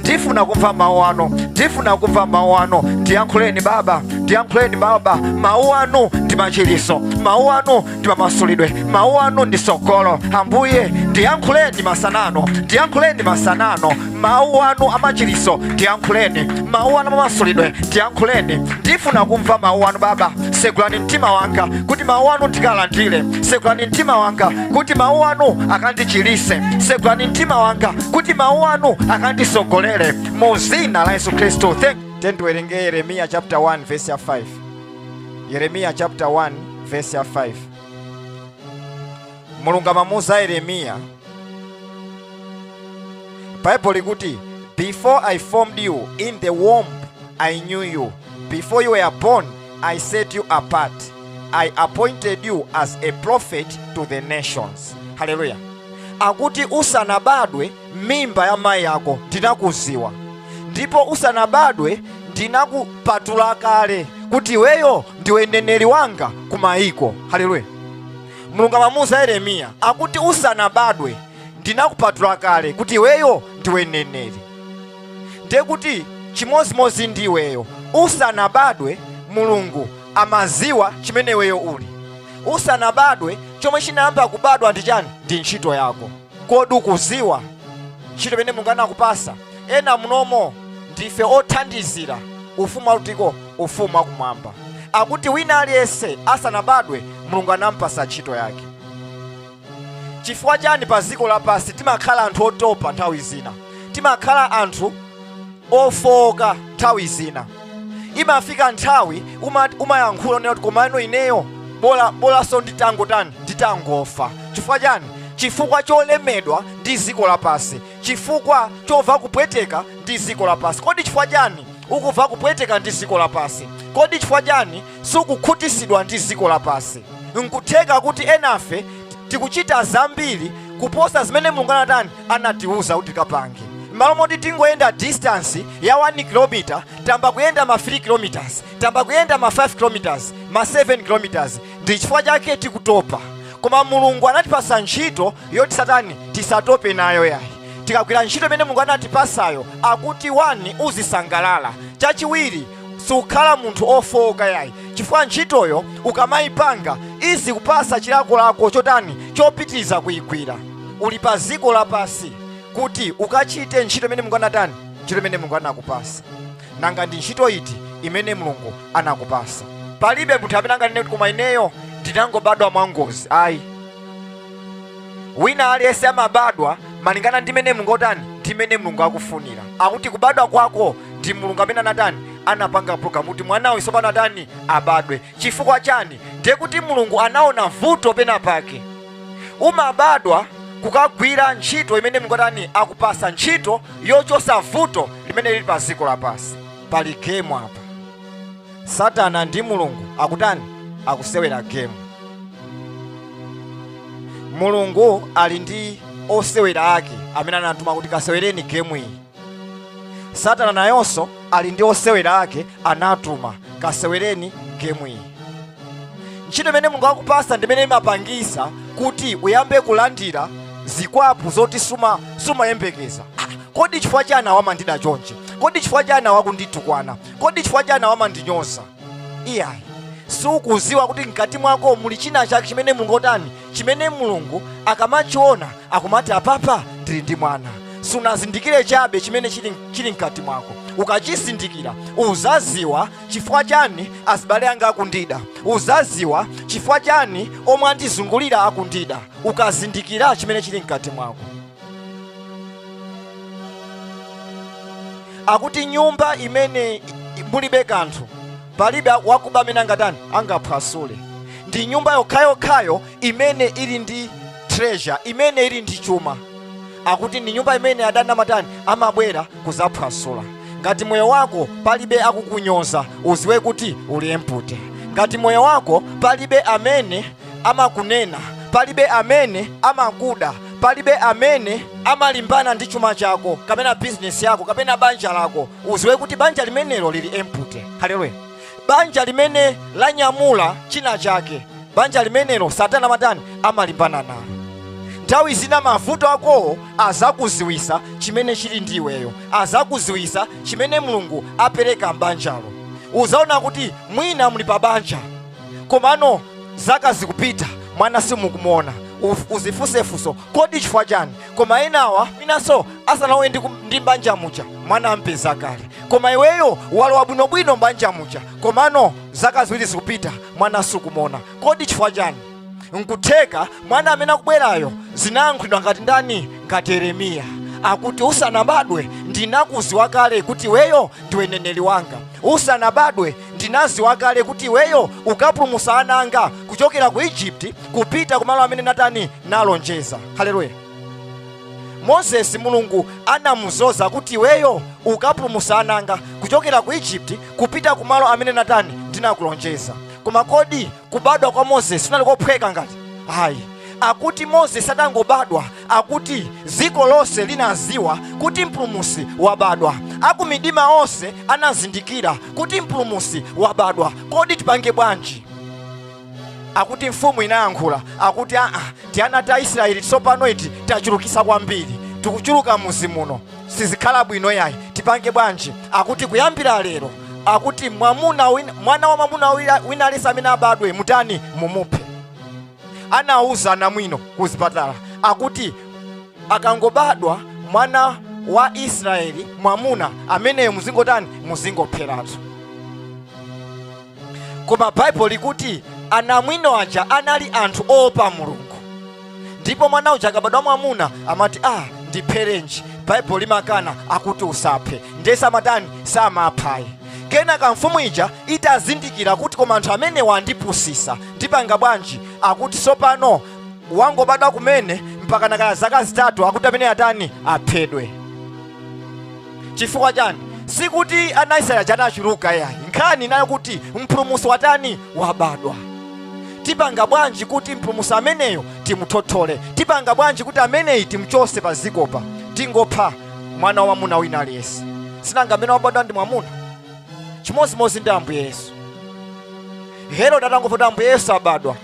ndifuna kumva mawu anu ndifuna kumva mawu anu ndiyankhuleni baba ndiyankhuleni baba mawu anu ndi machiliso mawu anu ndi mamasulidwe mawu anu ndi sogolo ambuye ndiyankhuleni masanano ndiyankhuleni masanano mawu anu amachiliso ndiyankhuleni mawu anu amamasulidwe ndiyankhuleni ndifuna kumva mawu anu baba segulani mtima wanga kuti mawu anu ndikalandire segulani mtima wanga kuti mawu anu akandichilise segulani mtima wanga kuti mawu anu akandisogolere mu zina la yesu khristu tiyeni tiwerenge yeremiya chapter 1 verse ya 5 yeremiya chapter 1 verse ya 5 mulungu amamuuza yeremiya bible likuti before i formed you in the womb i knew you before you were born i set you apart i appointed you as a prophet to the nations haleluya akuti usanabadwe m'mimba ya mayi ako ndinakuziwa ndipo usanabadwe ndinakupatula kale kuti iweyo ndiwe mneneri wanga ku mayiko haleluya mulungu amamuuza yeremiya akuti usanabadwe ndinakupatula kale kuti iweyo ndiwe mneneri ndiye kuti chimodzimodzi ndi iweyo usanabadwe mulungu amaziwa chimene iweyo uli usanabadwe chomwe chinayamba kubadwa ndi chani ndi ntchito yako kodi ukuziwa ntchito imene mulungu anakupasa ena munomo ndife othandizira ufumu wakutiko ufumu wakumwamba akuti wina aliyense asanabadwe mulungu anampasa ntchito yake chifukwa chani pa dziko lapansi timakhala anthu otopa nthawi zina timakhala anthu ofooka nthawi zina imafika nthawi uma- umayankhula unena kuti komano ineyo bola bolanso nditangotani nditangofa chifukwa chani chifukwa cholemedwa ndi dziko lapansi chifukwa chomva kupweteka ndi dziko lapansi kodi chifukwa chani ukumva kupweteka ndi dziko lapansi kodi chifukwa chani sukukhutisidwa ndi dziko lapansi. N'kutheka kuti enafe tikuchita zambiri kuposa zimene Mulungu anatani anatiuza kuti tikapange. M'malo moti tingoyenda distance ya 1 km, tayamba kuyenda ma 3 km, tayamba kuyenda ma 5 km, ma 7 km. Ndi chifukwa chake tikutopa. Koma Mulungu anatipasa ntchito yoti tisatani tisatope nayo yayi. Tikagwira ntchito imene Mulungu anatipasayo akuti wani uzisangalala. Chachiwiri sukhala munthu ofowoka yayi chifukwa ntchitoyo ukamayipanga izikupasa chilakolako chotani chopitiriza kuyigwira uli pa ziko lapasi kuti ukachite ntchito imene mulungu anatani ntchito imene mulungu anakupasa nanga ndi ntchito iti imene mulungu anakupasa palibe munthu amene anganene kuti koma ineyo ndinangobadwa mwangozi ayi wina aliyense amabadwa malingana ndi mmene mulungu watani ndi mmene mulungu akufunira akuti kubadwa kwako ndi mulungu amene anatani anapanga programu kuti mwana uyu sopano atani abadwe chifukwa chani ndiye kuti mulungu anaona vuto pena pake umabadwa kukagwira ntchito imene mulungu atani akupasa ntchito yochotsa vuto limene lili pa dziko lapansi pali gemu apa satana ndi mulungu akutani akusewera gemu mulungu ali ndi osewera ake amene anatuma kuti kasewereni gemu iyi satana nayonso ali ndi osewera ake anatuma kasewereni gemu iyi ntchito imene mulungu akupasa ndi imene imapangisa kuti uyambe kulandira zikwapu zoti sumayembekeza Ah, kodi chifukwa chani awa amandida chonchi kodi chifukwa chani awa akunditukwana kodi chifukwa chani awa amandinyoza iyayi siukuziwa kuti mkati mwako muli china chake chimene mulungu watani chimene mulungu akamachiona akumati apapa ndili ndi mwana sunazindikire chabe chimene chili mkati mwako ukachizindikira uzaziwa chifukwa chani azibale anga akundida uzaziwa chifukwa chani omwe andizungulira akundida ukazindikira chimene chili mkati mwako akuti nyumba imene mulibe kanthu palibe wakuba amene angatani angaphwasule ndi nyumba yokhayokhayo imene ili ndi treasure imene ili ndi chuma akuti ndi nyumba imene adani amatani amabwera kuzaphwasula ngati moyo wako palibe akukunyoza uziwe kuti uli empty ngati moyo wako palibe amene amakunena, palibe amene amakuda, palibe amene amalimbana ndi chuma chako kapena bizinesi yako kapena banja lako, uziwe kuti banja limenelo lili empty. Haleluya! Banja limene lanyamula china chake, banja limenelo Satana amatani amalimbana nalo. nthawi zina mavuto akowo azakuziwisa chimene chili ndi iweyo azakuziwisa chimene mulungu apereka m'banjalo uzaona kuti mwina muli pa banja komano zaka zikupita mwana simukumuona Uf- uzifunse funso kodi chifukwa chani koma enawa inanso asanalowe ndi, kum- ndi mbanja muja mwana ampeza kale koma iweyo walowa bwinobwino mbanja muja komano zaka ziwiri zikupita mwana sukumuona kodi chifukwa chani nkutheka mwana amene akubwerayo zinayankhulidwa ngati ndani ngati yeremiya akuti usanabadwe ndinakuziwa kale kuti iweyo ndiwe mneneri wanga usanabadwe ndinaziwa kale kuti iweyo ukapulumusa ana anga kuchokera ku egypt kupita kumalo amene natani nalonjeza haleluya mozesi mulungu anamuzoza kuti iweyo ukapulumusa ana anga kuchokera ku egypt kupita kumalo amene natani ndinakulonjeza koma kodi kubadwa kwa moses kunali kophweka ngati ayi akuti moses adangobadwa akuti dziko lonse linaziwa kuti mpulumusi wabadwa akumidima onse anazindikira kuti mpulumusi wabadwa kodi tipange bwanji akuti mfumu inayankhula akuti aa tiana ta israeli tsopano iti tachulukisa kwambiri tikuchuluka mudzi muno sizikhala bwino yayi tipange bwanji akuti kuyambira lero akuti mwamuna wina, mwana wa mwamuna wina- wina aliyense amene abadwe mutani mumuphe anawuza anamwino ku zipatala akuti akangobadwa mwana wa israeli mwamuna ameneyo muzingotani muzingopheratu koma baibulo likuti anamwino aja anali anthu oopa mulungu ndipo mwana uja akabadwa mwamuna amati ah ndipherenji baibulo limakana akuti usaphe ndiye samatani samapha ayi kenaka mfumu ija itazindikira kuti koma anthu amenewa andipusisa ndipanga bwanji akuti sopano wangobadwa kumene mpaka na kaya zaka zitatu akuti amene atani aphedwe chifukwa chani sikuti ana israeli aja anachuluka yayi nkhani inali yo kuti mpulumusi watani wabadwa tipanga bwanji kuti mpulumusi ameneyo timuthothole tipanga bwanji kuti ameneyi timchose pa ziko pa tingopha mwana wamwamuna wina aliyense sinanga amene wabadwa ndi mwamuna chimodzimodzi ndi ambuye yesu herode atangomva kuti ambuye yesu abadwa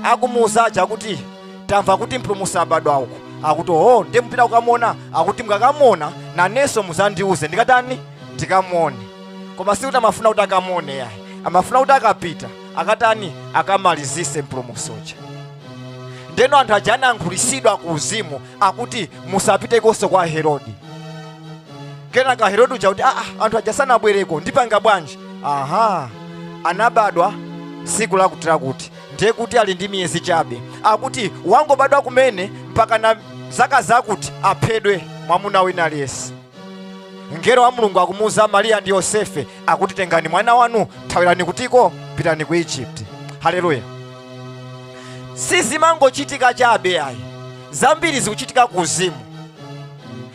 akumuuza aja kuti tamva kuti mpulumutsi wabadwa uku akuti oho ndiye mupita kukamuona akuti mukakamuona nanenso muzandiuze ndikatani ndikamuone koma sikuti amafuna kuti akamuone yayi amafuna kuti akapita akatani akamalizise mpulumutsi uja ndeno anthu aja anayankhulitsidwa ku uzimu akuti musapitekonso kwa herodi kenaka herodi uja kuti aa anthu aja sanabwereko ndipanga bwanji aha anabadwa siku lakuti lakuti ndiye kuti ali ndi miyezi chabe akuti wangobadwa kumene mpaka na zaka zakuti aphedwe mwamuna wina aliyense mngelo wa mulungu akumuuza mariya ndi yosefe akuti tengani mwana wanu thawirani kutiko pitani ku egypt haleluya sizimangochitika chabe ayi zambiri zikuchitika ku uzimu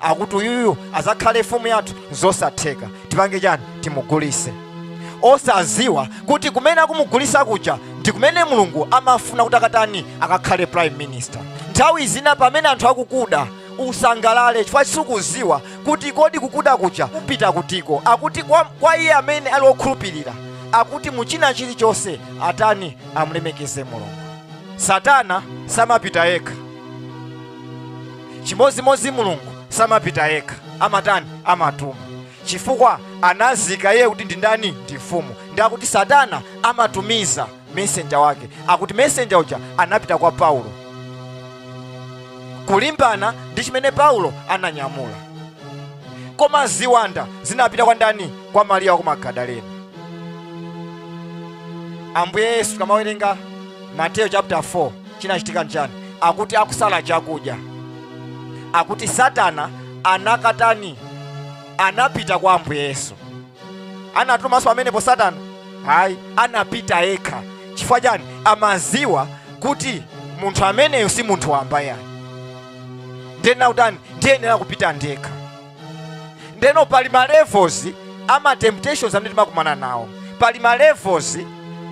akuti uyuyu azakhale mfumu yathu zosatheka tipange chani timugulise osaziwa kuti kumene akumugulisa kuja ndi kumene mulungu amafuna kuti akatani akakhale prime minister nthawi zina pamene anthu akukuda usangalale chifukwa sukuziwa kuti kodi kukuda kuja kukupita kutiko akuti kwa, kwa iye amene ali okhulupirira akuti muchina chilichonse atani amulemekeze mulungu satana samapita yekha chimodzimodzi mulungu samapita yekha amatani amatuma chifukwa amaziwa iye kuti ndi ndani ndi mfumu ndi akuti satana amatumiza mesenja wake akuti mesenja uja anapita kwa paulo kulimbana ndi chimene paulo ananyamula koma ziwanda zinapita kwa ndani kwa mariya wa ku magadalena ambuye yesu ukamawerenga mateyo chapter 4 Chinachitika nchani? Akuti akusala chakudya, akuti Satana anakatani, anapita kwa Ambuye Yesu. Anatumanso pamenepo Satana? Ayi, anapita yekha. Chifukwa chani? Amaziwa kuti munthu ameneyu si munthu wamba ayi, ndiyenera kutani? Ndiyenera kupita ndekha. ndeno pali ma levels a ma temptations amene timakumana nawo pali ma levels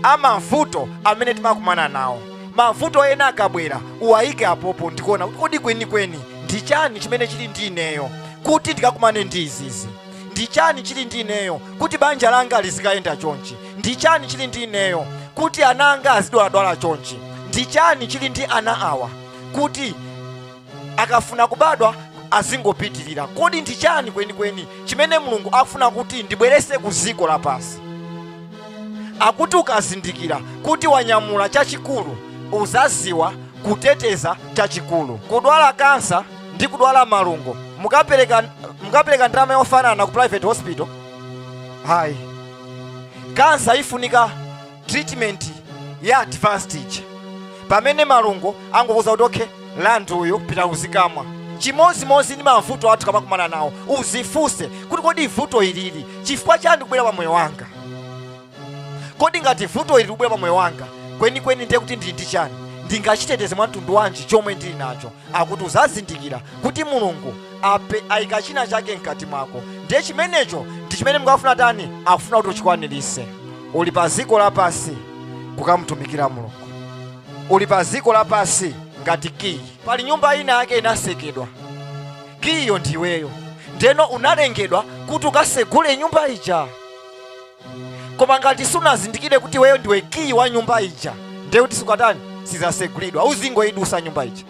a mavuto amene timakumana nawo mavuto ena akabwera uwayike apopo ndikuona kuti kodi kwenikweni ndi chani chimene chili ndi ineyo kuti ndikakumane ndi izizi ndi chani chili ndi ineyo kuti banja langa lizikayenda chonchi ndi chani chili ndi ineyo kuti ana anga azidwaladwala chonchi ndi chani chili ndi ana awa kuti akafuna kubadwa azingopitirira kodi ndi chani kwenikweni chimene mulungu akufuna kuti ndibwerese ku dziko lapansi akuti ukazindikira kuti wanyamula chachikulu uzaziwa kuteteza chachikulu kudwala kansa ndi kudwala malungo mukapereka ndalama yofanana ku private hospital ayi kansa ifunika treatment ya advanced ija pamene malungo angokuuza kuti okay LA ndi uyu pita uzikamwa chimodzimodzi ndi mavuto athu ukamakumana nawo uzifunse kuti kodi vuto ilili chifukwa chani kubwera pa moyo wanga kodi ngati vuto ilili kubwera pa moyo wanga kwenikweni ndiye kuti ndili ndi chani ndingachiteteze mwa mtundu wanji chomwe ndili nacho akuti uzazindikira kuti mulungu ape ayika china chake mkati mwako ndiye chimenecho ndi chimene mulungu afuna tani akufuna kuti uchikwanirise uli pa dziko lapansi kukamutumikira mulungu uli pa dziko lapansi ngati kiyi pali nyumba ina yake inasekedwa kiyiyo ndiweyo ndeno unalengedwa kuti ukasegule nyumba ija koma ngati sunazindikire kuti iweyo ndiwe kiyi wa nyumba ija ndiye kuti siitani sizasegulidwa uzingoyidusa nyumba ija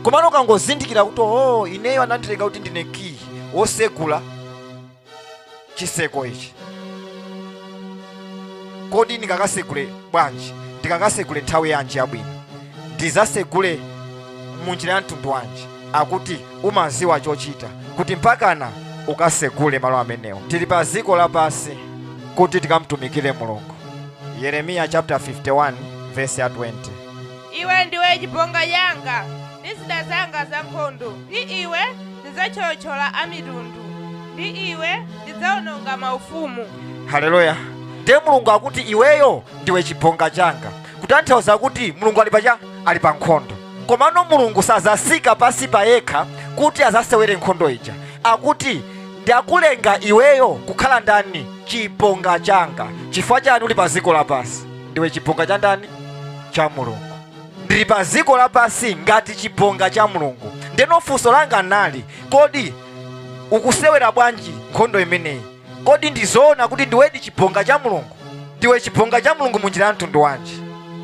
komano ukangozindikira kuti oh ineyo anandilenga kuti ndine kiyi wosegula chiseko ichi kodi ndingakasegule bwanji ndingakasegule nthawi yanji yabwino ndizasegule munjira ya mtundu wanji akuti umaziwa chochita kuti mpakana ukasegule malo amenewo tili pa dziko lapansi kuti tikamtumikire mulungu yeremiya chapter 51 verse ya 20 iwe ndiwe chibonga changa ndi zida zanga za nkhondo ndi iwe ndidzathyolathyola amitundu ndi iwe ndidzawononga maufumu haleluya ndiye mulungu akuti iweyo ndiwe chibonga changa kutanthauza kuti mulungu ali pacha ali pa nkhondo komano mulungu sazasika pasi pa yekha kuti azasewere nkhondo ija akuti ndakulenga iweyo kukhala ndani chibonga changa chifukwa chani uli pa dziko lapansi ndiwe chibonga cha ndani cha mulungu ndili pa dziko lapansi ngati chibonga cha mulungu ndeno funso langa nali kodi ukusewera bwanji nkhondo imeneyi Kodi ndi zoona kuti ndiwedi chibonga cha Mulungu? Ndiwe chibonga cha Mulungu munjira ya mtundu wanji?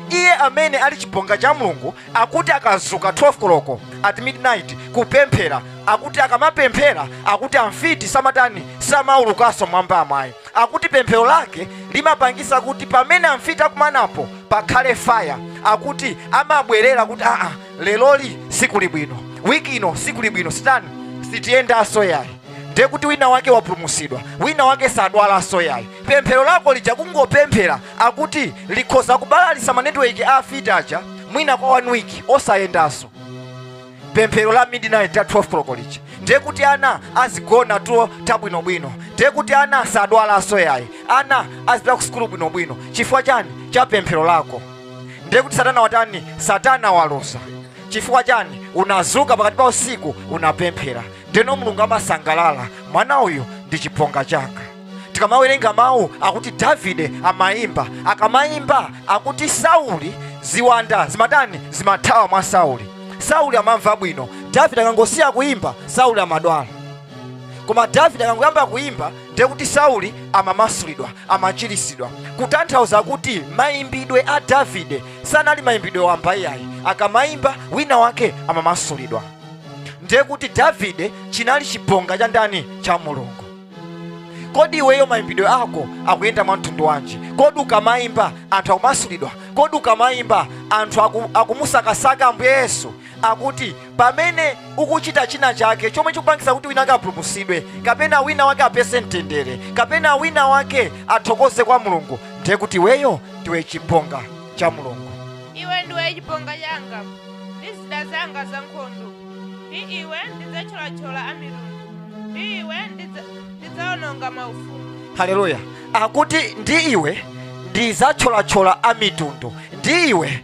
Iye amene ali chibonga cha Mulungu akuti akazuka 12 koloko at midnight kupemphera, akuti akamapemphera akuti amfiti samatani samaulukanso mwamba yayi, akuti pemphero lake limapangisa kuti pamene amfiti akumanapo pakhale fire, akuti amabwerera kuti aa leroli sikuli bwino wiki ino sikuli bwino sitani sitiyendanso yayi ndiye kuti wina wake wapulumusidwa wina wake sadwalanso yayi pemphero lako lija kungopemphera akuti likhoza kubalalisa manetiweki a afiti aja mwina kwa one week osayendanso pemphero la midnight ya 12 koloko lija ndiye kuti ana azigona tulo tabwinobwino ndiye kuti ana sadwalanso yayi ana azipita ku sukulu bwinobwino chifukwa chani cha pemphero lako ndiye kuti satana watani satana waluza chifukwa chani unazuka pakati pa usiku unapemphera ndeno mulungu amasangalala mwana uyu ndi chibonga changa tikamawerenga mawu akuti davide amayimba akamayimba akuti sauli ziwanda zimatani zimathawa mwa sauli sauli amamva bwino davide akangosiya kuyimba sauli amadwala koma davide akangoyamba kuyimba ndiye kuti sauli amamasulidwa amachirisidwa kutanthauza kuti mayimbidwe a davide sanali mayimbidwe wamba iyayi akamayimba wina wake amamasulidwa ndiye kuti davide chinali chibonga cha ndani cha mulungu kodi iweyo mayimbidwe ako akuyenda mwa mtundu wanji kodi ukamayimba anthu akumasulidwa kodi ukamayimba anthu akumusakasaka ambuye yesu akuti pamene ukuchita china chake chomwe chikupangisa kuti wina wake apulumusidwe kapena wina wake apeze mtendere kapena wina wake athokoze kwa mulungu ndiye kuti iweyo ndiwe chibonga cha mulungu iwe ndiwe chibonga changa ndi zida zanga za nkhondo ndi iwe ndidzathyolathyola amitundu ndi iwe ndidzaononga maufumu haleluya akuti ndi iwe ndidzathyolathyola amitundu ndi iwe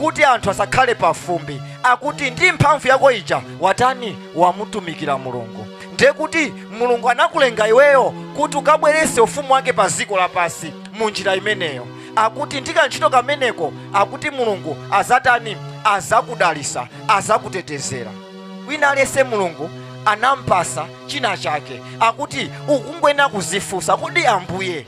kuti anthu asakhale pafumbi akuti ndi mphamvu yako ija watani wamutumikira mulungu ndiye kuti mulungu anakulenga iweyo kuti ukabwerese ufumu wake pa dziko lapansi mu njira imeneyo akuti ndi kantchito kameneko akuti mulungu azatani azakudalisa azakutetezera wina aliyense mulungu anampasa china chake akuti ukungoyenera kuzifunsa kodi ambuye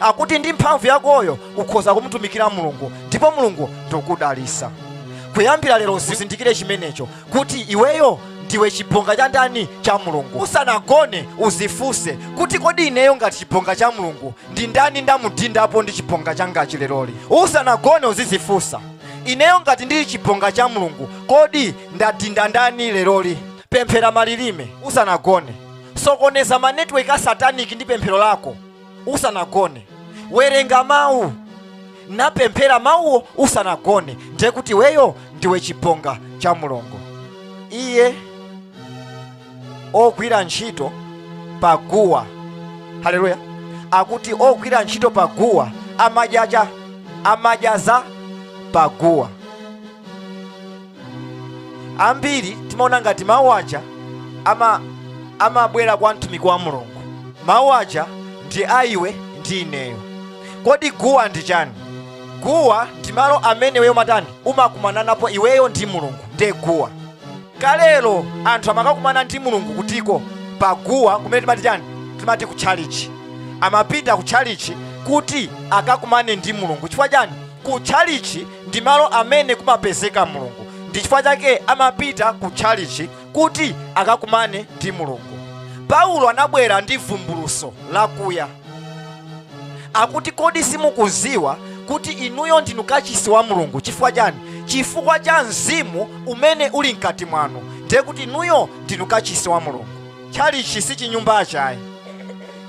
akuti ndi mphamvu yakoyo ukhoza kumutumikira mulungu ndipo mulungu ndikudalisa kuyambira lero uzindikire chimenecho kuti iweyo ndiwe chibonga cha ndani cha mulungu usanagone uzifunse kuti kodi ineyo ngati chibonga cha mulungu ndi ndani ndamudindapo ndi chibonga changachi leroli usanagone uzizifunsa ineyo ngati ndili chibonga cha mulungu kodi ndadinda ndani leroli pemphera malilime usanagone sokoneza manetiweki a sataniki ndi pemphero lako usanagone werenga mawu napemphera mawuwo usanagone ndiye kuti iweyo ndiwe chibonga cha mulungu iye ogwira ntchito pa guwa haleluya akuti ogwira ntchito pa guwa ama amadya za pa guwa ambiri timaona ngati mawu aja amabwera kwa mtumiki wa mulungu mawu aja ndi a iwe ndi ineyo kodi guwa ndi chani guwa ndi malo amene iweyo mumatani umakumananapo iweyo ndi mulungu ndiye guwa kalelo anthu amakakumana ndi mulungu kutiko pa guwa kumene timati chani timati ku tchalichi amapita ku tchalichi kuti akakumane ndi mulungu chifukwa chani ku tchalichi Ndi malo amene kumapezeka Mulungu. Ndi chifukwa chake amapita ku tchalitchi kuti akakumane ndi Mulungu. Paulo anabwera ndi vumbulutso lakuya. Akuti kodi simukuziwa kuti inuyo ndinu kachisi wa Mulungu? Chifukwa chani? Chifukwa cha mzimu umene uli mkati mwanu. Ndiye kuti inuyo ndinu kachisi wa Mulungu. tchalitchi si chinyumbachi ayi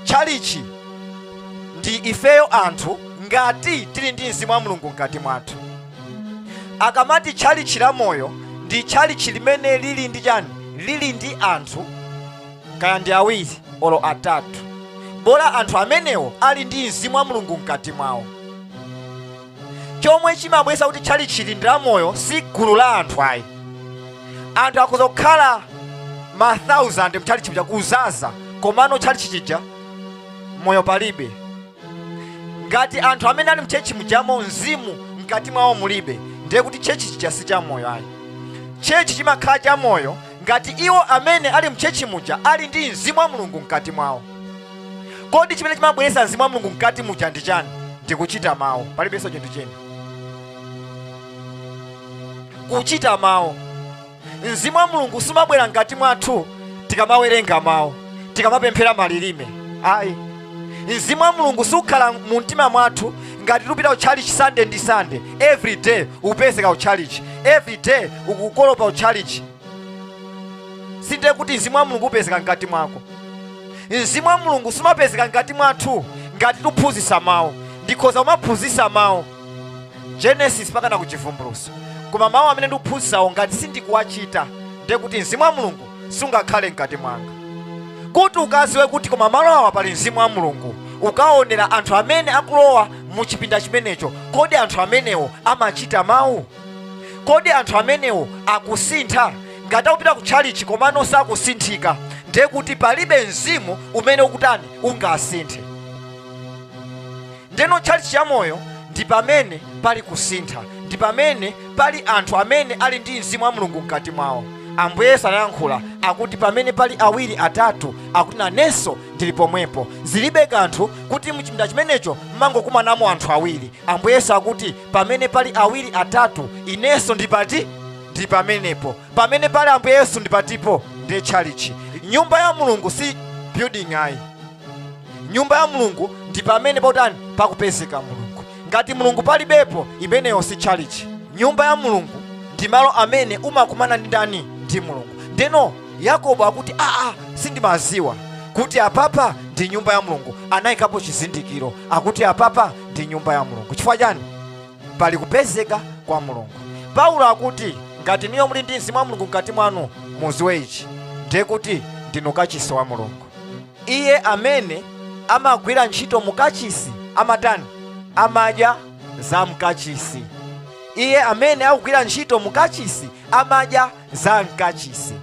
tchalitchi ndi ifeyo anthu ngati tili ndi mzimu wa mulungu mkati mwathu akamati tchalitchi la moyo ndi tchalitchi limene lili ndi chani lili ndi anthu kaya ndi awiri olo atatu bola anthu amenewo ali ndi mzimu wa mulungu mkati mwawo chomwe chimabweresa kuti tchalitchi ndi la moyo si gulu la anthu ayi anthu akhoza kukhala ma 1000 mtchalitchi muja kuzaza komano tchalitchi chija moyo palibe ngati anthu amene ali mchechi mujamo mzimu mkati mwawo mulibe ndiye kuti chechi chija si cha moyo ayi chechi chimakhala cha moyo ngati iwo amene ali mchechi muja ali ndi mzimu wa mulungu mkati mwawo kodi chimene chimabweretsa mzimu wa mulungu mkati muja ndi chani ndikuchita mawu palibenso chinthu china kuchita mawu mzimu wa mulungu siumabwera mkati mwathu tikamawerenga mawu tikamapemphera malilime ayi mzimu wa mulungu sukukhala mu mtima mwathu ngati tikupita ku church sunday ndi sunday every day ukupezeka ku church every day ukukolopa ku church sinde kuti mzimu wa mulungu upezeka mkati mwako mzimu wa mulungu sumapezeka mkati mwathu ngati tikuphunzisa mawu ndikhoza kumaphunzisa mawu genesis mpakana kuchivumbuluso koma mawu amene ndikuphunzisawo ngati sindikuwachita ndiye kuti mzimu wa mulungu sungakhale mkati mwanga kuti ukaziwe kuti koma malo awa pali mzimu wa mulungu ukaonera anthu amene akulowa mu chipinda chimenecho kodi anthu amenewo amachita mawu kodi anthu amenewo akusintha ngati akupita ku tchalichi komano sakusinthika ndiye kuti palibe mzimu umene ukutani ungasinthe ndeno tchalichi cha moyo ndi pamene pali kusintha ndi pamene pali anthu amene ali ndi mzimu wa mulungu mkati mwawo ambuye yesu anayankhula akuti pamene pali awiri atatu akuti nanenso ndili pomwepo zilibe kanthu kuti mchipinda chimenecho mmangokumanamo anthu awiri ambuye yesu akuti pamene pali awiri atatu inenso ndi pati ndi pamenepo pamene pali ambuye yesu ndi patipo ndiye tchalichi nyumba ya mulungu si building ayi nyumba ya mulungu ndi pamene pakutani pakupezeka mulungu ngati mulungu palibepo imeneyo si tchalichi nyumba ya mulungu ndi malo amene umakumana ndi ndani ndi mulungu ndeno yakobo akuti aa sindimaziwa kuti apapa ndi nyumba ya mulungu anayikapo chizindikiro akuti apapa ndi nyumba ya mulungu chifukwa chani pali kupezeka kwa mulungu paulo akuti ngati inuyo muli ndi mzimu wa mulungu mkati mwanu muziwe ichi ndiye kuti ndinu kachisi wa mulungu iye amene amagwira ntchito mukachisi amatani amadya za mukachisi iye amene akugwira ntchito mukachisi amadya za mkachisi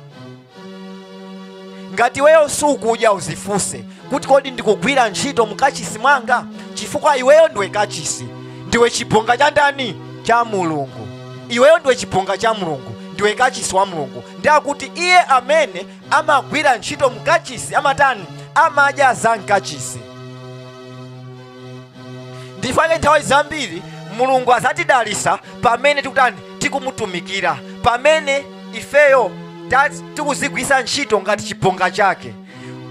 ngati iweyo sukudya uzifunse kuti kodi ndikugwira ntchito mukachisi mwanga chifukwa iweyo ndiwe kachisi ndiwe chibonga cha ndani cha mulungu iweyo ndiwe chibonga cha mulungu ndiwe kachisi wa mulungu nde akuti iye amene amagwira ntchito mukachisi amatani amadya za mkachisi nchifukwa chake nthawi zambiri mulungu azatidalisa pamene tikutani tikumutumikira pamene ifeyo ta- tikuzigwisa ntchito ngati chibonga chake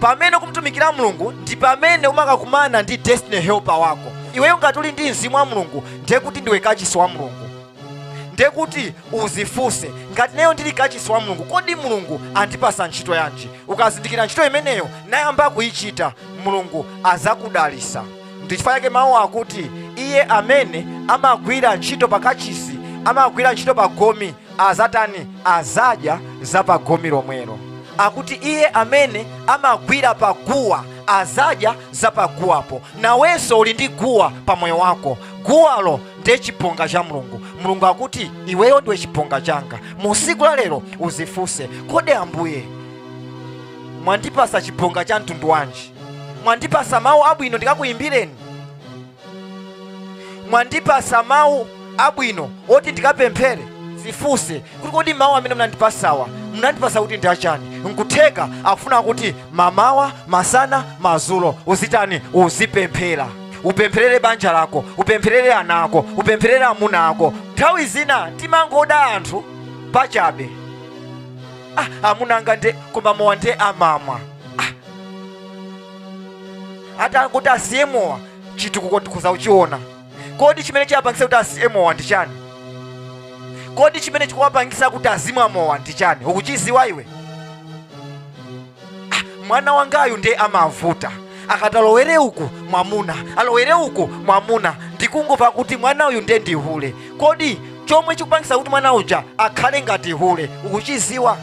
pamene ukumutumikira mulungu ndi pamene umakakumana ndi destiny helper wako iweyo ngati uli ndi mzimu wa mulungu ndiye kuti ndiwe kachisi wa mulungu ndiye kuti uzifunse ngati ineyo ndili kachisi wa mulungu kodi mulungu andipasa ntchito yanji ukazindikira ntchito imeneyo nayamba kuyichita mulungu azakudalisa ndi chifukwa chake mawu akuti iye amene amagwira ntchito pa kachisi amagwira ntchito pa gome azatani azadya za pa gome lomwelo akuti iye amene amagwira pa guwa azadya za pa guwapo nawenso uli ndi guwa pa moyo wako guwalo ndiye chibonga cha mulungu mulungu akuti iweyo ndiwe chibonga changa mu siku la lero uzifunse kodi ambuye mwandipasa chibonga cha mtundu wanji mwandipasa mawu abwino ndikakuyimbireni mwandipasa mawu abwino oti ndikapemphere zifunse kuti kodi mawu amene munandipasawa munandipasa kuti ndi achani nkutheka akufuna kuti mamawa masana mazulo uzitani uzipemphera upempherere banja lako upempherere ana ako upempherere amuna ako nthawi zina timangoda anthu pachabe ah, amuna anga nde koma mowa nde amamwa ah. atangoti asiye mowa chitukuko tikhoza kuchiona kodi chimene chiwapangise kuti asiye mowa ndi chani kodi chimene chikuwapangisa kuti azimwa mowa ndi chani ukuchiziwa iwe ah, mwana wangayu ndiye amavuta akati alowere uku mwamuna alowere uku mwamuna ndikungova kuti mwana uyu ndiye ndi hule kodi chomwe chikupangisa kuti mwana uja akhale ngati hule ukuchiziwa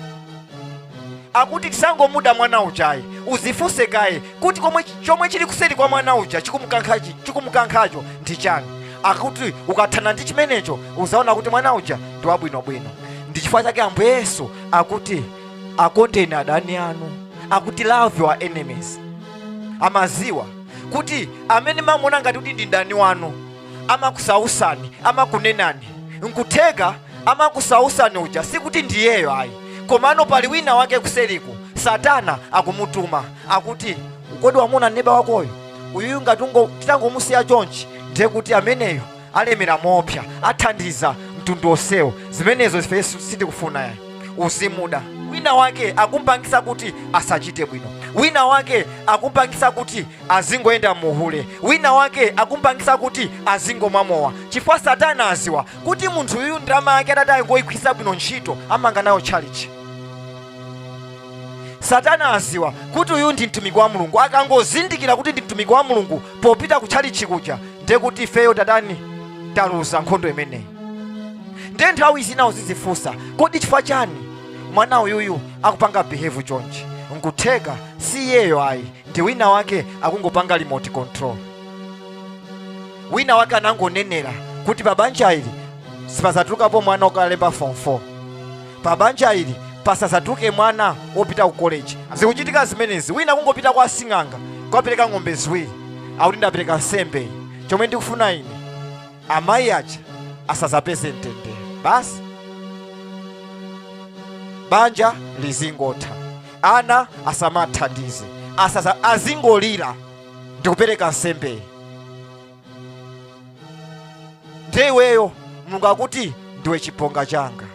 akuti tisangomuda mwana ujayi uzifunse kaye kuti komwe chomwe chili kuseri kwa mwana uja chikumukankhachi- chikumukankhacho ndi chani akuti ukathana ndi chimenecho uzaona kuti mwana uja ndi wabwinobwino ndi chifukwa chake ambuye yesu akuti akondeni adani anu akuti love your enemies amaziwa kuti amene mamuona ngati kuti ndi mdani wanu amakusausani amakunenani nkutheka amakusausani uja sikuti ndiyeyo ayi komano pali wina wake kuseliku satana akumutuma akuti kodi wamuona neba wakoyo uyuyu ngati ungo- titangomusiya chonchi ndiye kuti ameneyo alemera moopsa athandiza mtundu wonsewo zimenezo ife sitikufuna yayi uzimuda wina wake akumpangisa kuti asachite bwino wina wake akumpangisa kuti azingoyenda muhule wina wake akumpangisa kuti azingomwa mowa chifukwa satana aziwa kuti munthu uyu ndalama yake atati angoyigwiritsa bwino ntchito amanga nayo tchalichi satana aziwa kuti uyu ndi mtumiki wa mulungu akangozindikira kuti ndi mtumiki wa mulungu popita ku tchalitchi kuja ndiye kuti ifeyo tatani taluza nkhondo imeneyi ndiye nthawi zina uzidzifunsa kodi chifukwa chani mwana uyuyu akupanga behave chonchi nkutheka si iyeyo ayi ndi wina wake akungopanga remote control wina wake anangonenera kuti pa banja ili sipazatulukapo mwana wokalemba form 4 pa banja ili pasadzatuke mwana wopita ku koleji zikuchitika zimenezi wina kungopita kwa sing'anga kukapereka ng'ombe ziwiri akuti ndapereka nsembeyi chomwe ndikufuna ine amayi aja asadzapeze mtendere basi banja lizingotha ana asamathandize azingolira ndikupereka nsembeyi ndiye iweyo mulungu akuti ndiwe chibonga changa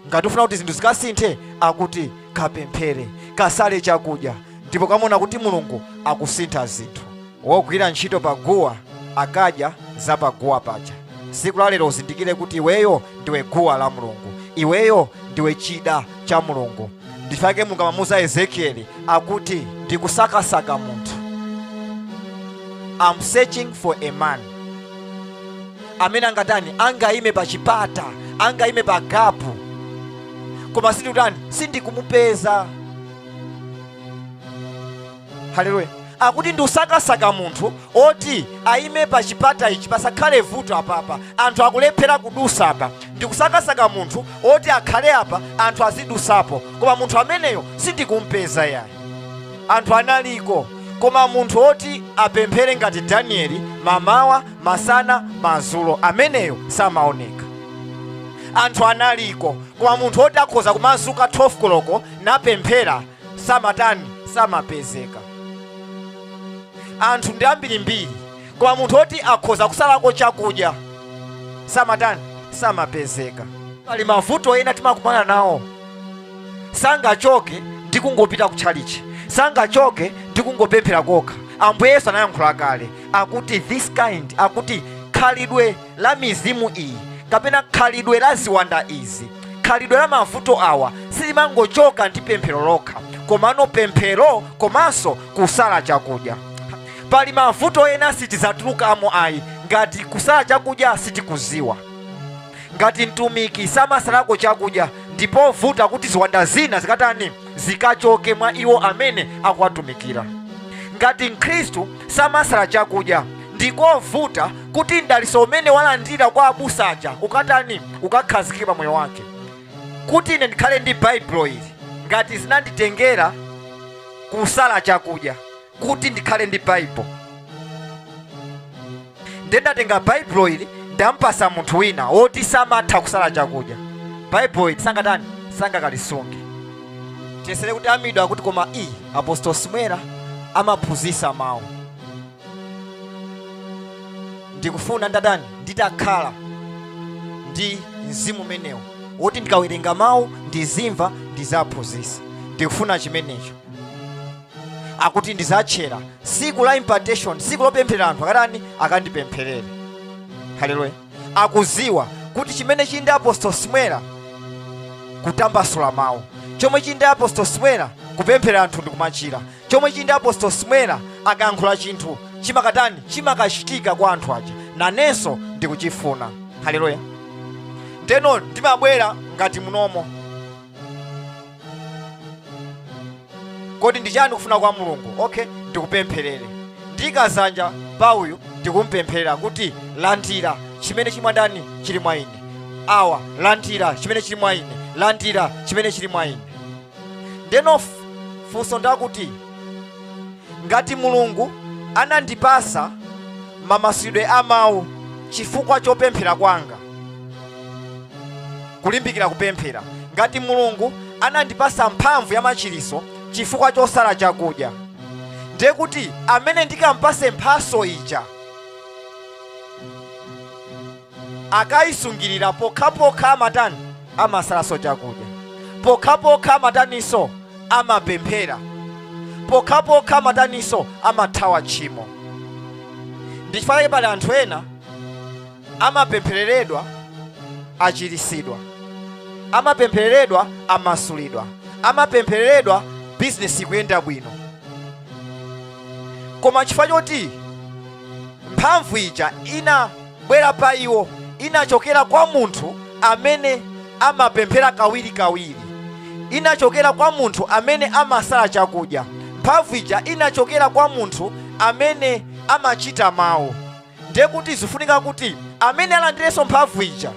ngati ufuna kuti zinthu zikasinthe akuti kapemphere kasale chakudya ndipo ukaona kuti mulungu akusintha zinthu wogwira ntchito pa guwa akadya za pa guwa paja siku la lero uzindikire kuti iweyo ndiwe guwa la mulungu iweyo ndiwe chida cha mulungu ndi chake mulungu amamuuza ezekieli akuti ndikusakasaka munthu am searching for a man amene angatani angayime pa chipata angayime pa gapu koma sindikutani sindikumupeza haleluya akuti ndikusakasaka munthu oti ayime pa chipata ichi pasakhale vuto apapa anthu akulephera kudusa apa ndikusakasaka munthu oti akhale apa anthu azidusapo koma munthu ameneyo sindikumupeza yayi anthu analiko koma munthu oti apemphere ngati danieli mamawa masana mazulo ameneyo samaoneka anthu analiko koma munthu oti akhoza kumazuka 12 koloko napemphera samatani samapezeka anthu ndi ambirimbiri koma munthu oti akhoza kusalako chakudya samatani samapezeka pali mavuto ena timakumana nawo sangachoke ndi kungopita kutchalichi sangachoke ndi kungopemphera kokha ambuye yesu anayankhula kale akuti this kind akuti khalidwe la mizimu iyi kapena khalidwe la ziwanda izi khalidwe la mavuto awa silimangochoka ndi pemphero lokha komano pemphero komanso kusala chakudya pali mavuto ena sitizatulukamo ayi ngati kusala chakudya sitikuziwa ngati mtumiki samasalako chakudya ndi povuta kuti ziwanda zina zikatani zikachoke mwa iwo amene akuwatumikira ngati mkhristu samasala chakudya ndikovuta kuti mdaliso umene walandira kwa abusa aja ukatani ukakhazikike pa moyo wake kuti ine ndikhale ndi baibulo ili ngati zinanditengera kusala chakudya kuti ndikhale ndi baibulo ndiye ndatenga baibulo ili ndampasa munthu wina woti samatha kusala chakudya baibulo ili sangatani sangakalisunge tiyesere kuti amidwa kuti koma i apostol simwera amaphunzitsa mawu ndikufuna ndatani nditakhala ndi mzimu umenewo woti ndikawerenga mawu ndizimva ndizaphunzitsa ndikufuna chimenecho akuti ndizatchera siku la impartation siku lopempherera anthu akatani akandipempherere haleluya akuziwa kuti chimene chili ndi apostol simwera kutambasula mawu chomwe chili ndi apostol simwera kupempherera anthu ndi kumachira chomwe chili ndi apostol simwera akayankhula chinthu chimakatani chimakachitika kwa anthu aja nanenso ndikuchifuna haleluya ndeno ndimabwera ngati munomo kodi ndi chani kufuna kwa mulungu okay ndikupempherere ndiika dzanja pa uyu ndikumpempherera kuti landira chimene chili mwa ndani chili mwa ine awa landira chimene chili mwa ine landira chimene chili mwa ine ndeno f- funso ndakuti ngati mulungu anandipasa mamasulidwe a mawu chifukwa chopemphera kwanga kulimbikira kupemphera ngati mulungu anandipasa mphamvu ya machiliso chifukwa chosala chakudya ndiye kuti amene ndikampase mphaso ija akayisungirira pokhapokha amatani amasalaso chakudya pokhapokha amataniso amapemphera pokhapokha amataniso amathawa tchimo ndichifukwa chake pali anthu ena amapemphereredwa achirisidwa amapemphereredwa amasulidwa amapemphereredwa bizinesi ikuyenda bwino koma chifukwa choti mphamvu ija inabwera pa iwo inachokera kwa munthu amene amapemphera kawirikawiri inachokera kwa munthu amene amasala chakudya mphamvu ija inachokera kwa munthu amene amachita mawu ndiye kuti zifunika kuti amene alandirenso mphamvu ija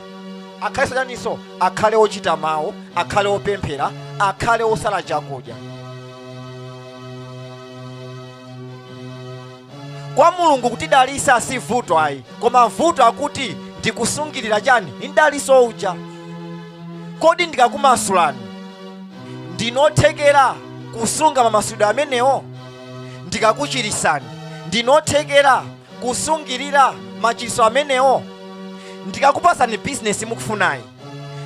akhale wochaninso akhale ochita mawu akhale opemphera akhale osala chakudya kwa mulungu kutidalisa si vuto ayi koma vuto ndi lakuti ndikusungirira chani mdaliso uja kodi ndikakumasulani ndinothekera kusunga mamasulidwe amenewo ndikakuchirisani ndinothekera kusungirira machiritso amenewo ndikakupasani bizinesi mukufunayi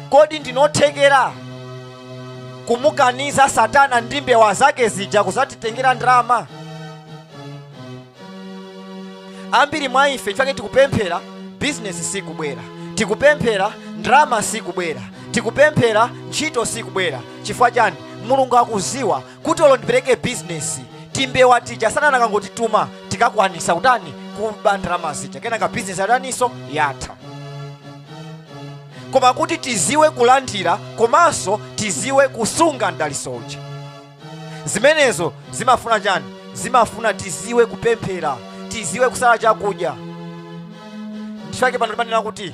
kodi ndinothekera kumukaniza satana ndi mbewa zake zija kuzatitengera ndalama ambiri mwa ife chifukwa chake tikupemphera bizinesi sikubwera tikupemphera ndalama sikubwera tikupemphera ntchito sikubwera chifukwa chani mulungu akuziwa kuti olo ndipereke bizinesi timbewa tija satana akangotituma tikakwanisa kutani kuba ndalama zija kenaka bizinesi yataninso yatha koma kuti tiziwe kulandira komanso tiziwe kusunga mdaliso uja zimenezo zimafuna chani zimafuna tiziwe kupemphera tiziwe kusala chakudya ndichake pano timanena kuti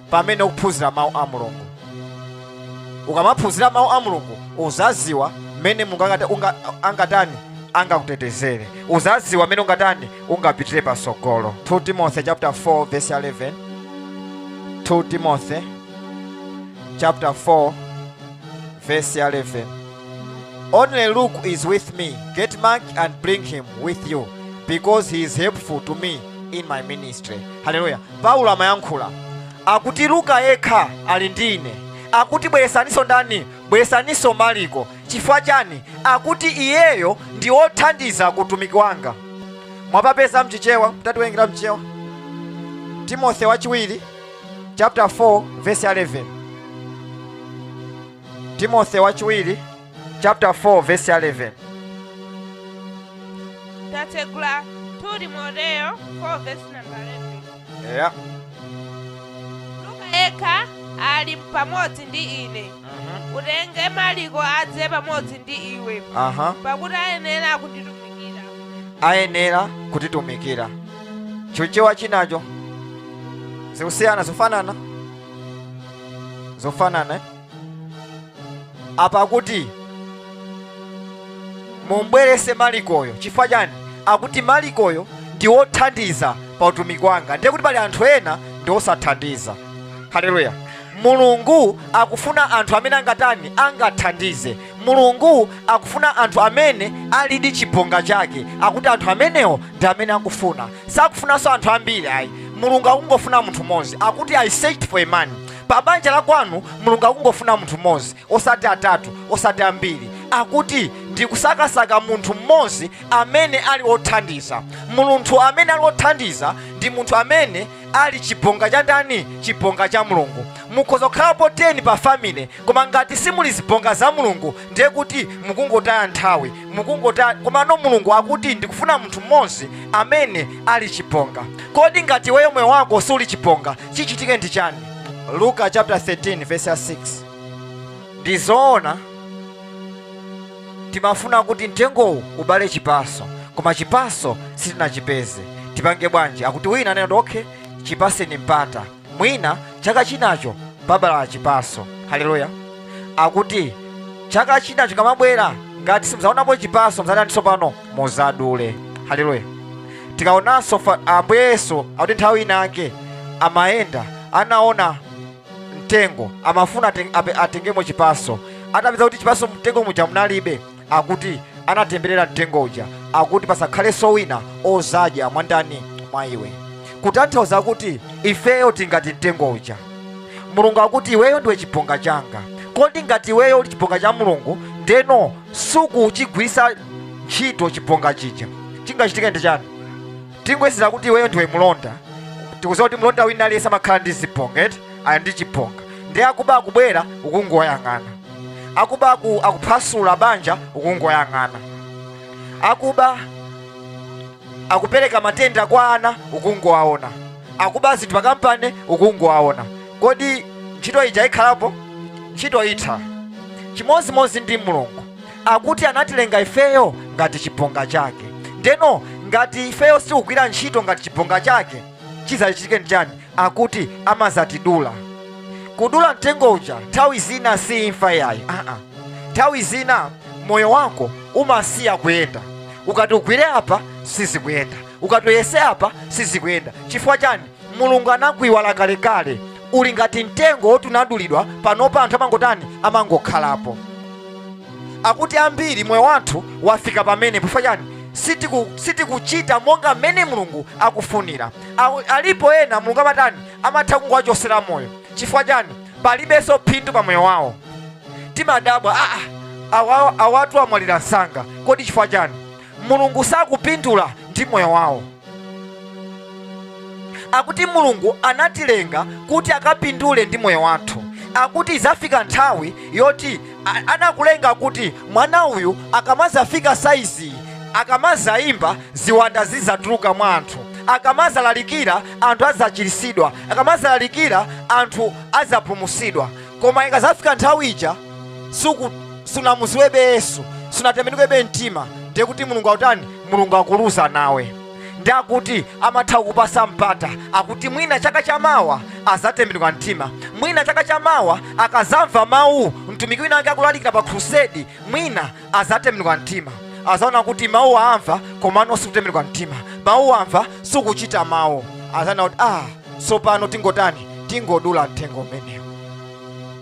pamene ukuphunzira mawu a mulungu ukamaphunzira mawu a mulungu uzaziwa mmene mulungu angata- unga- angatani angakutetezere uzaziwa mmene ungatani ungapitire patsogolo 2 timothy chapter 4 verse 11 2 timothy chapter 4 verse 11 Only Luke is with me. Get Mark and bring him with you, because he is helpful to me in my ministry. Hallelujah. Paulo amayankhula, akuti, Luka yekha ali ndi ine. Akuti, Bweresaninso ndani? Bweresaninso Marko. Chifukwa chani? Akuti, Iyeyo ndi wothandiza ku utumiki wanga. Mwapapeza mchichewa? Mtatiwerengera mchichewa. Timothy wachiwiri chapter 4 verse 11. Timothy wachiwiri chapter 4 verse 11 tatsegula 2 timoteyo 4 verse number 11 yeah. luka yekha ali pamodzi ndi ine Mhm. utenge maliko adze pamodzi ndi iwe aha pakuti ayenera kutitumikira ayenera kutitumikira chichewa chinacho zikusiyana zofanana zofanana eh? apa kuti mumbwerese malikoyo chifukwa chani akuti malikoyo ndi wothandiza pa utumiki wanga ndiye kuti pali anthu ena ndi osathandiza haleluya mulungu akufuna anthu amene angatani angathandize mulungu akufuna anthu amene alidi chibonga chake akuti anthu amenewo ndi amene akufuna sakufunanso anthu ambiri ayi mulungu akungofuna munthu mmodzi akuti i searched for a man pa banja la kwanu mulungu akungofuna munthu mmodzi osati atatu osati ambiri akuti ndikusakasaka munthu mmodzi amene ali othandiza munthu amene ali othandiza ndi munthu amene ali chibonga cha ndani chibonga cha mulungu mukhoza kukhalapo 10 pa family koma ngati simuli zibonga za mulungu ndiye kuti mukungotaya nthawi komano mulungu akuti ndikufuna munthu mmodzi amene ali chibonga kodi ngati iweyo moyo wako suli chibonga chichitike ndi chani luka chapter 13 verse ya 6 ndi zoona timafuna kuti mtengowu ubale chipaso koma chipaso sitinachipeze tipange bwanji akuti wina anena kuti okay chipatseni mpata mwina chaka chinacho chibala chipaso haleluya akuti chaka chinacho chikamabwera ngati simudzaonapo chipaso mudzatani tsopano muzadule haleluya tikaonanso fa- ambuye yesu akuti nthawi inake amayenda anaona mtengo amafuna aten- ape- atengemo chipaso atapeza kuti chipaso mtengo muja munalibe akuti anatemberera mtengo uja akuti pasakhalenso wina ozadya mwandani mwa iwe kutanthauza kuti ifeyo tili ngati mtengo uja mulungu akuti iweyo ndiwe chibonga changa kodi ngati iweyo uli chibonga cha mulungu ndeno sukuchigwirisa ntchito chibonga chija chingachitike ndi chani tingoyerekeza kuti iweyo ndiwe mlonda tikuziwa kuti mlonda wina aliyense amakhala ndi chibonga eti ali ndi chibonga ndiye akuba akubwera ukungoyang'ana akuba aku, akuphasula banja ukungowayang'ana akuba akupereka matenda kwa ana ukungowaona akuba akuba zinthu pakampani ukungowaona kodi ntchito ija ikhalapo? Ntchito itha. Chimodzimodzi ndi Mulungu, akuti anatilenga ifeyo ngati chibonga chake. Ndeno ngati ifeyo sitikugwira ntchito ngati chibonga chake, chidzachitike nchani? Akuti amadzatidula. Kudula mtengo uja nthawi zina si imfa ayi, aa, nthawi zina moyo wako umasiya kuyenda. Ukati ugwire apa sizikuyenda, ukati uyese apa sizikuyenda. Chifukwa chani? mulungu anakuiwala kalekale uli ngati mtengo woti unadulidwa panopa anthu amangotani amangokhalapo akuti ambiri moyo wathu wafika pamenepo chifukwa chani sitiku- sitikuchita monga mmene mulungu akufunira Awo- alipo ena mulungu amatani amatha kungowachotsera moyo chifukwa chani palibenso phindu pa moyo wawo timadabwa aa awa- awatu amwalira msanga kodi chifukwa chani mulungu sakupindula ndi moyo wawo akuti mulungu anatilenga kuti akapindule ndi moyo wathu akuti idzafika nthawi yoti a- anakulenga kuti mwana uyu akamazafika saizi akamazayimba ziwanda zizatuluka mwa anthu akamazalalikira anthu azachiritsidwa akamazalalikira anthu azapulumutsidwa koma ikazafika nthawi ija suku sunamuziwebe yesu sunatembenukebe mtima nde kuti mulungu akutani mulungu akuluza nawe ndi akuti amatha kukupasa mpata akuti mwina chaka cha mawa azatembenuka mtima mwina chaka cha mawa akazamva mawu mtumiki wina wake akulalikira pa khulusedi mwina azatembenuka mtima azaona kuti mawu amva komano sukutembenuka mtima mawu amva sukuchita mawu azaona kuti ah tsopano tingotani tingodula mtengo umenewu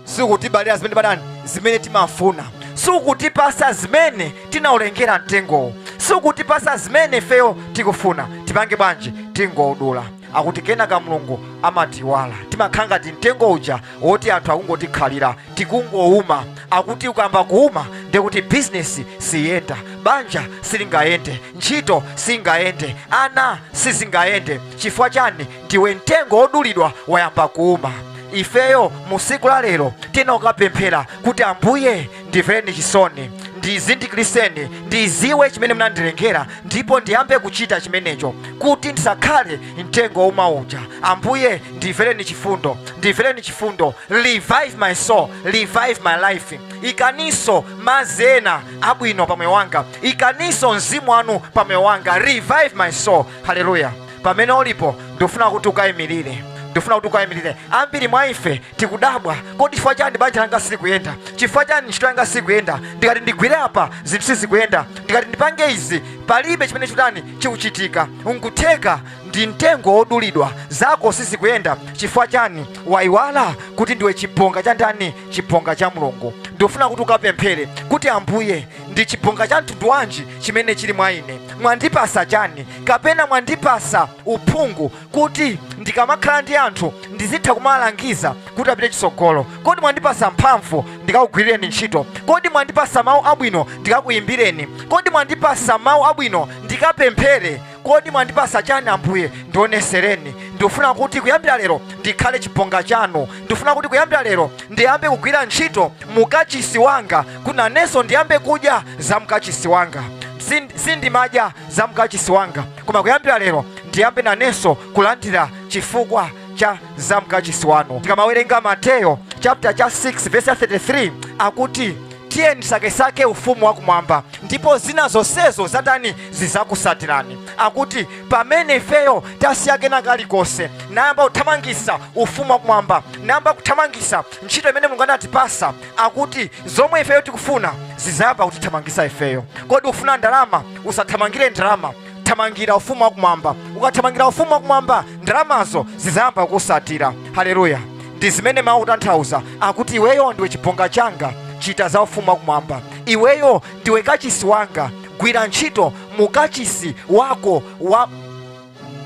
sukutibalira zimene patani zimene timafuna sukutipasa zimene tinaulengera mtengowu sukutipasa zimene ifeyo tikufuna tipange bwanji tingoudula akuti kenaka mulungu amatiwala timakhala ngati mtengo uja woti anthu akungotikhalira tikungowuma akuti ukamba kuwuma ndekuti bizinesi siyenda banja silingayende ntchito singayende ana sizingayende chifukwa chani ndiwe mtengo wodulidwa wayamba kuuma ifeyo mu siku la lero tiyeni tikapemphere kuti ambuye ndimvereni chisoni ndizindikiriseni ndiziwe chimene munandilengera ndipo ndiyambe kuchita chimenecho kuti ndisakhale mtengo wouma uja ambuye ndimvereni chifundo ndimvereni chifundo revive my soul revive my life ikaninso madzi ena abwino pa moyo wanga ikaninso mzimu wanu pa moyo wanga revive my soul haleluya pamene ulipo ndikufuna kuti ukayimirire ndifuna kuti ukayimirire ambiri mwa ife tikudabwa kodi chifukwa chani banja langa silikuyenda chifukwa chani ntchito yanga sikuyenda ndikati ndigwire apa zinthu sizikuyenda ndikati ndipange izi palibe chimene chikutani chikuchitika nkutheka ndi mtengo wodulidwa zako sizikuyenda chifukwa chani wayiwala kuti ndiwe chibonga cha ndani chibonga cha mulungu ndikufuna kuti ukapemphere kuti ambuye ndi chibonga cha mtundu wanji chimene chili mwa ine mwandipasa chani kapena mwandipasa uphungu kuti ndikamakhala ndi anthu ndizitha kumawalangiza kuti apite chitsogolo kodi mwandipasa mphamvu ndikakugwirireni ntchito kodi mwandipasa mawu abwino ndikakuyimbireni kodi mwandipasa mawu abwino ndikapemphere kodi mwandipasa chani ambuye ndionesereni ndikufuna kuti kuyambira lero ndikhale chibonga chanu ndikufuna kuti kuyambira lero ndiyambe kugwira ntchito mukachisi wanga kuti nanenso ndiyambe kudya za mukachisi wanga Sin- sindimadya za mukachisi wanga koma kuyambira lero ndiyambe nanenso kulandira chifukwa cha za mukachisi wanu tikamawerenga mateyo chaputa cha 6 verse ya 33 akuti tiye ndisakesake ufumu wakumwamba ndipo zina zonsezo zitani zidzakusatirani akuti pamene ifeyo tasiya kena kalikonse nayamba kuthamangisa ufumu wakumwamba nayamba kuthamangisa ntchito imene mulungu anatipasa akuti zomwe ifeyo tikufuna zidzayamba kutithamangisa ifeyo kodi ufuna ndalama usathamangire ndalama thamangira ufumu wakumwamba ukathamangira ufumu wakumwamba ndalamazo zidzayamba kukusatira haleluya ndi zimene mawu akutanthauza akuti iweyo ndiwe chibonga changa chita za ufumu wakumwamba iweyo ndiwe kachisi wanga gwira ntchito mu kachisi wako wa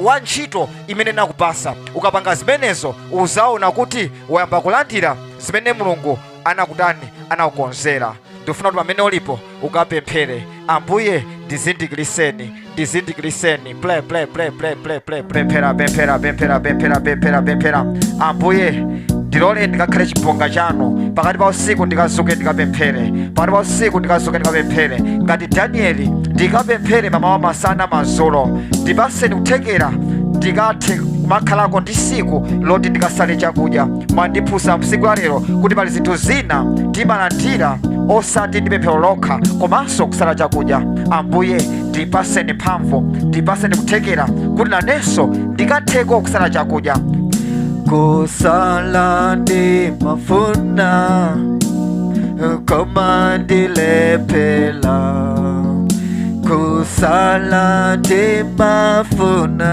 wa ntchito imene nakupasa ukapanga zimenezo uzaona kuti wayamba kulandira zimene mulungu anakutani anakukonzera ndifuna kuti pamene ulipo ukapemphere ambuye ndizindikiriseni ndizindikiriseni pray pray pray pray pray pray pemphera pemphera pemphera pemphera pemphera pemphera ambuye ndiloleni ndikakhale chibonga chanu pakati pa usiku ndikazuke ndikapemphere pakati pa usiku ndikazuke ndikapemphere ngati danieli ndikapemphere mamawa masana mazulo ndipaseni kuthekera ndikathe kumakhalako ndi siku loti ndikasale chakudya mwandiphunzitsa mu siku la lero kuti pali zinthu zina timalandira osati ndi pemphero lokha komanso kusala chakudya ambuye ndipaseni mphamvu ndipaseni kuthekera kuti nanenso ndikatheko kusala chakudya kusala ndimafuna koma ndilephera kusala ndimafuna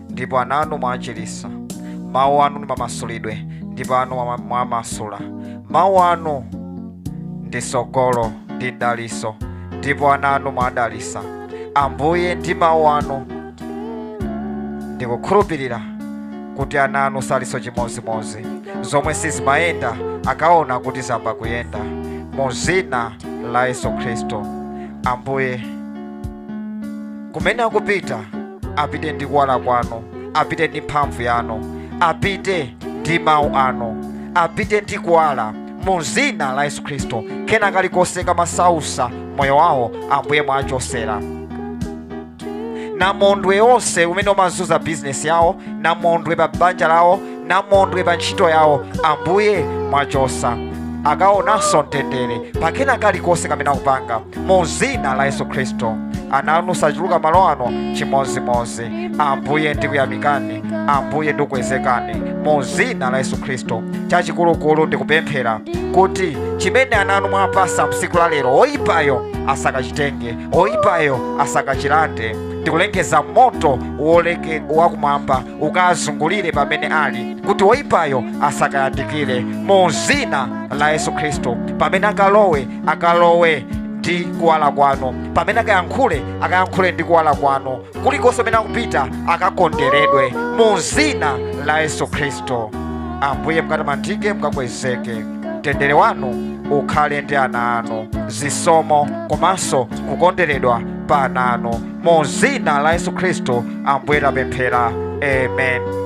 ndipo ana anu mwachiritsa mawu anu ndi mamasulidwe ndipo anu mwa- mwamasula mawu anu ndi sogolo ndi daliso ndipo ana anu mwadalisa ambuye ndi mawu anu ndikukhulupirira kuti ana anu salinso chimodzimodzi zomwe sizimayenda akaona kuti zayamba kuyenda mu zina la yesu khristu ambuye kumene akupita apite ndi kuwala kwanu apite ndi mphamvu yanu apite ndi mawu anu apite ndi kuwala mu zina la yesu khristu kena kalikonse kamasausa moyo wawo ambuye mwachosera namondwe wonse umene umazunza bizinesi yawo namondwe pa banja lawo namondwe pa ntchito yawo ambuye mwachosa akaonanso mtendere pakena kalikonse kamene akupanga mu zina la yesu khristu ana anu sachoka malo ano chimozimozi ambuye ndikuyamikani ambuye ndikukwezekani mu zina la yesu khristu chachikulukulu ndikupemphera kuti chimene ana anu mwapasa msiku la lero oyipayo asakachitenge oyipayo asakachilande ndikulengeza moto wakumwamba ukazungulire pamene ali kuti woyipayo asakayandikire mu zina la yesu khristu pamene akalowe akalowe ndi kuwala kwanu pamene akayankhule akayankhule ndi kuwala kwanu kulikonse kumene akupita akakonderedwe mu zina la yesu khristu ambuye mukatamandike mukakwezeke mtendere wanu ukhale ndi ana anu zisomo komanso kukonderedwa pa ana anu mu zina la yesu khristu ambuye tapemphera amen